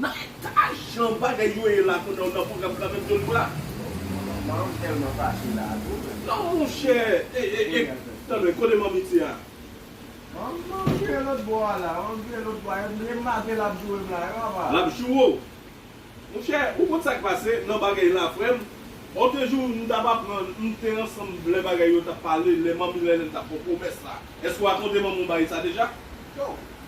Nan eta jan bagay yo ye la kounya ou nan program kanmenm Joly Bra? Manman m telman fache la tou menm. Non monchè e tande kote manmi ti a. Manman m vire lòt bò a la, manman m vire lòt bò a, yo t vle m mate lap joure m la yo apa. Lap joure w. Monchè ou konn sak pase nan bagay la frèm, on te jou m tap aprann m te ansanm lè bagay yo tap pale lè manmi Lèlène tap fè w pwomès la, èske w rakonte manman w bagay sa deja? Too.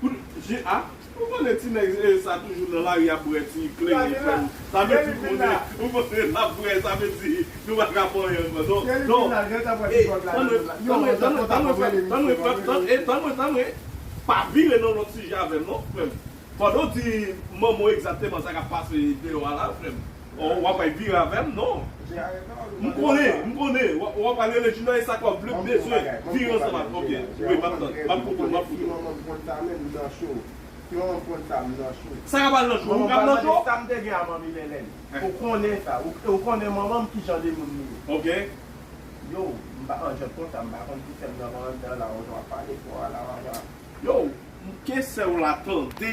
Pou je a Ou konnen ti nèg sa toujou nan lari ap bwè ti kleren frèm sa vle di konnen ou konnen lap bwè sa vle di nou pa ka pòyen ankò non non e tan mwen tan mwen tan mwen tan mwen frèm tan mwen frèm tan e tan mwen tan mwen pa vire nan lòt sijè avèm non frèm pandan w di manman w egzakteman sa kap pase deyò a la frèm. Oh wap bay vire avèm non M konnen m konnen wap pral rele junior esak wap vle m bezwen vire ansanm avèw ok wi map tann map fotow map fotow. Sa ka pral nan cho ou kap nan cho. Ok. Yow mnke sèw la tande.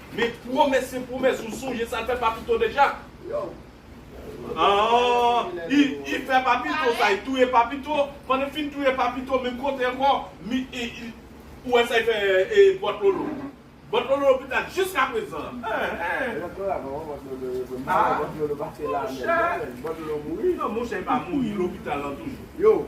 Men pwomès se pwomès ou sonje sal fè papito deja aah li fè papito sa li touye papito pandan li fin touye papito menm kote ankò ou wè sa li fè bòt lolo bòt lolo lopital jiska prezan aah monchè monchè li pa mouri li lopital lan toujou.